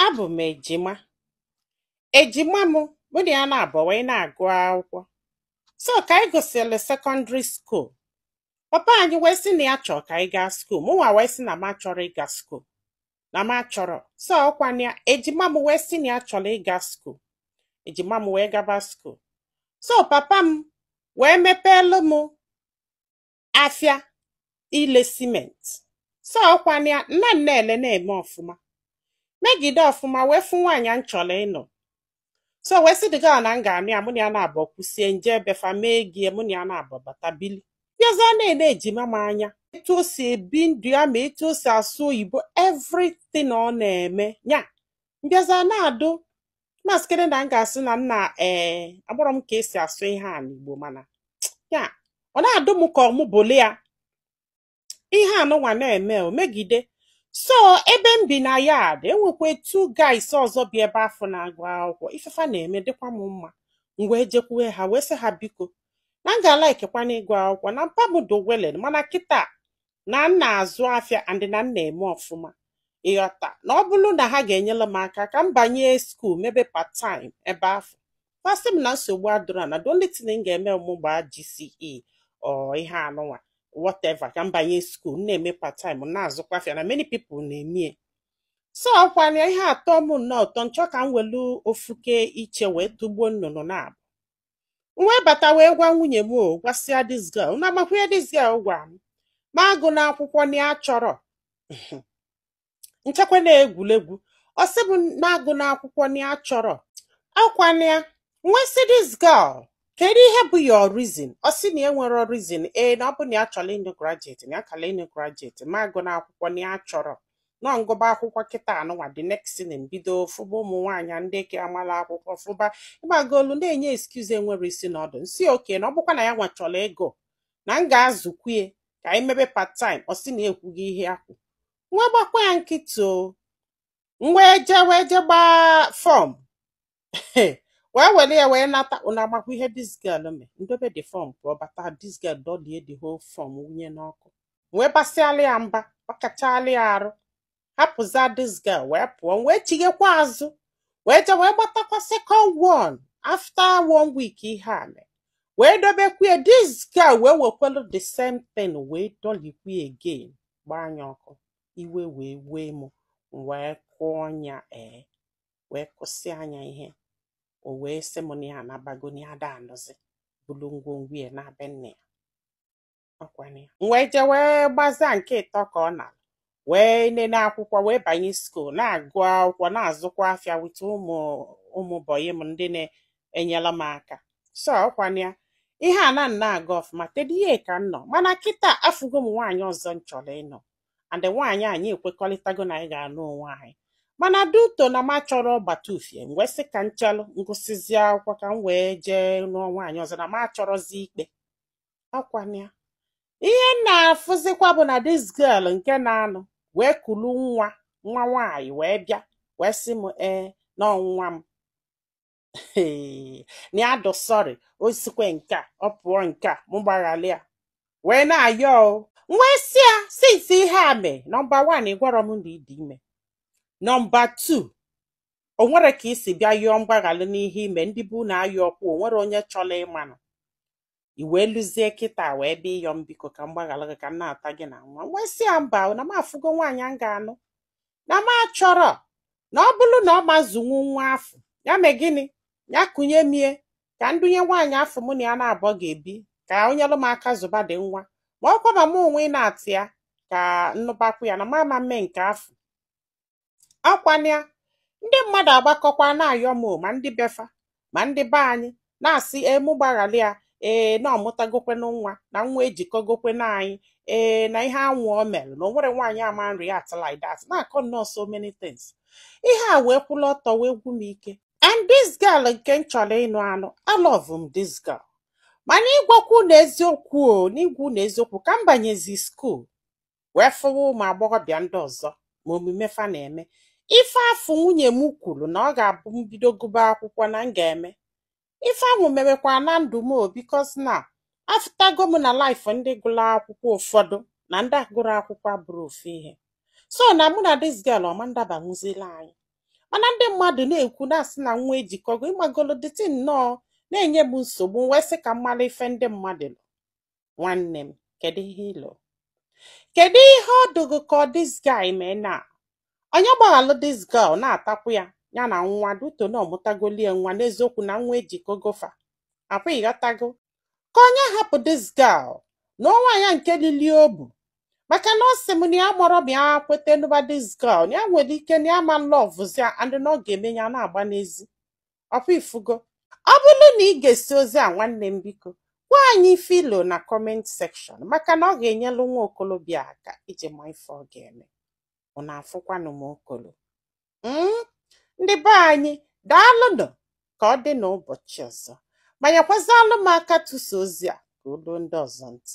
Abụ m ejima. Ejima m mụ na ya naabọ wee na-agụ akwụkwọ. So ka anyị gụsịrị sekọndịrị skuul, papa anyị wee sị na ya chọrọ ka anyị gaa skuul, mụnwa wee sị na m achọrọ ịga skuul, na m achọrọ. So ọkwa na ya, ejima m wee sị na ya chọrọ ịga skuul, ejima m wee gaba skuul. So papa m wee mepeelu m afịa ile cement so ọkwa na ya na m na-ele na-eme ọfụma megide ọfụma wee fụ nwaanyị m chọrọ ịnụ so wee sị this girl na m ga-anụ ya mụ na ya naabọ kwusịa m jee be fa mee ego ya, mụ na ya naabọ bata bili m bịaza na-ele ejima m anya etu o si ebi ndụ ya ma etu o si asụ oyibo everything ọ na-eme ya m bịaza na-adụ maskịrị na m ga-asị na m na ee eh, agbọrọ m ka esi asụ ihe a n'Igbo mana ya ọ na-adụ m ka ọ mụ bụlụ ya ihe anụnwa na-eme o megide so ebe m bi na yard enwekwa two guys ọzọ bi ebe afụ na-agụ akwụkwọ ife fa na-eme dịkwa m mma m wee jekwue ha wee sị ha biko na m ga-alaikekwana ịgụ akwụkwọ na mpa m dowelen mana kịta na m na-azụ afịa and na m na-eme ọfụma ị ghọta na ọ bụrụ na ha ga-enyere m aka ka m banye skuul mebe part time ebe afụ fa sị m na nsogbu adụrọ na the only thing m ga-eme m gbaa GCE or ihe anụnwa whatever ka m banye skuul na-eme part time na-azụkwa afịa na many people na-emie so ọkwana ihe atọọ m nnọọ ụtọ m chọọ ka m welu ofuke iche wee tụgbuo nnụnụ naabọ wee bata wee gwa nwunye m o gwasịa this girl unu amakwa ihe this girl gwa m mụ agụna akwụkwọ na ya achọrọ m chekwa na egwuregwu ọ sị m mụ agụna akwụkwọ na ya achọrọ ọkwa na ya m wee sị this girl kedu ihe bụ your reason ọ sị na ya nwere reason ee na ọ bụ na ya chọrọ ịnụ graduate na ya kara ịnụ graduate mụ agụna akwụkwọ na ya achọrọ na m gụba akwụkwọ kịta anụnwa the next thing m bido fụba ụmụ nwaanyị ndị ke amala akwụkwọ fụba ị magolu na-enye excuse enwerọ isi na ọdụ m sị okay na ọ bụkwa na ya nwa chọrọ ịgụ na m ga-azụkwue ka anyị mebe part time ọ sị na ekwughị ihe a ekwu m wee gbakwa ya nkịtị o m wee jee wee je gbaa form wee were ya wee nata unu amakwa ihe this girl mee m dobe the form pụọ bata this girl dọlie the whole form wunye n'ọkụ wee basịala ya mba bakachala ya arụ hapụza this girl wee pụọ wee chighekwa azụ wee je wee gbatakwa second one after one week ihe a mee wee dobekwa ya this girl wee wekwelu the same thing wee dọlikwa again gbaa ya ọkụ iwe wee wee mụ wee kụọ ya ee wee kwụsị anya ihe o wee sị m na ya anabago na ya da anụzi bulu ngwongwo ya na be nne ya ọkwana ya m wee jee wee gbaza nkịtị ka ọ naa wee nene akwụkwọ wee banye skuul na-agụ akwụkwọ na-azụkwa afịa with ụmụ ụmụ bọyị m ndị na-enyela m aka so ọkwana ya ihe a na na-aga ọfụma tedie ka m nọ mana kịta afụgo m nwaanyị ọzọ m chọrọ ịnụ and nwaanyị anyị ekwekọrịtago na anyị ga-anụ onwe anyị mana due to na m achọrọ ịgbata ufie m wee sị ka m chelụ m gụsịzi akwụkwọ ka m wee jee nụọ nwaanyị ọzọ na m achọrọzi ikpe ọkwana ya ihe m na-afụzikwa bụ na this girl nke na-anụ wee kulu nwa nwa nwaanyị wee bịa wee sị m ee na ọ nwa m na ya dụ sorry o sikwe nke a ọ pụọ nke a mụ gbaghalị ya wee na-ayọ m wee sị ya since ihe a mee number one ị gwarọ m na ị dị ime number two o nwere ka i si bịa yọọ mgbaghalị n'ihe i me ndị bụ na ayọ ọkwa o nwere onye chọrọ ịmanụ i wee luzie kịta wee bịa ịyọ m biko ka m gbaghalụ gị ka m nata gị na nwa wee sị ya mba na m afụgo nwaanyị a m ga-anụ na m achọrọ na ọ bụrụ na ọ ma azụnwu nwa afụ ya mee gịnị ya kunye m ya ka m dunye nwaanyị afụ mụ na ya naabọ ga-ebi ka o nyelụ m aka zụba di nwa ma ọ kwaba m onwe ịnata ya ka m nụbakwu ya na m ama mme nke afụ ọkwana ya ndị mmadụ agbakọkwa na-ayọ m ma ndị befa ma ndị be anyị na-asị mụ gbaghalị ya ee na ọ mụtagokwena nwa na nwa ejikọgokwena anyị ee na ihe ahụ o mere na o nwere nwaanyị ama react like that na-akọ nnọọ so many things ihe a wee kwụlụ ọtọ wee gwu m ike and this girl nke m chọrọ ịnụ anụ alọvụ m this girl mana ịgwakwu unu eziokwu o n'ịgwa unu eziokwu ka m banyezi skuul wee fụwa ụmụ agbọghọbịa ndị ọzọ ma omume fa na-eme ife afụ nwunye m kwuru na ọ ga-abụ m bido gụba akwụkwọ na m ga-eme ife ahụ merekwa na ndụ m because na afụtago m na life ndị gụrụ akwụkwọ ụfọdụ na ndị agụrọ akwụkwọ abụrọ ofu ihe so na mụ na this girl ọ ma ndabanwuzilụ anyị mana ndị mmadụ na-ekwu na-asị na nwa ejikọgo ị magolo the thing nnọọ na-enye m nsogbu wee sị ka m malụ ife ndị mmadụ nwanne m kedu ihe i lo kedu ihe ọ dụ gụ ka this guy mee na onye gbaghalụ this girl natakwu ya ya na nwa due to na ọ mụtagolie nwa n'eziokwu na nwa ejikọgo fa ọkwa ị ghọtago ka onye hapụ this girl nụọ nwaanyị nke lili obu maka na ọ sị m na ya amarọ ma ya kweta nụba this girl na ya nwere ike na ya ama lọvụzi ya and na ọ ga-eme ya na-agba n'ezi ọ kwa ị fụgo ọ bụlụ na i gesịa ozi a nwanne m biko gwa anyị ife i lo na comment section maka na ọ ga-enyelụ nwa okolobịa aka iji ma ife ọ ga-eme ụnụ afụkwanụ m okolo Mm, ndị be anyị daalụnụ ka ọ dị n'ụbọchị ọzọ ma nyekwazịalụ m aka tụsa ozi a ka o luo ndị ọzọ ntị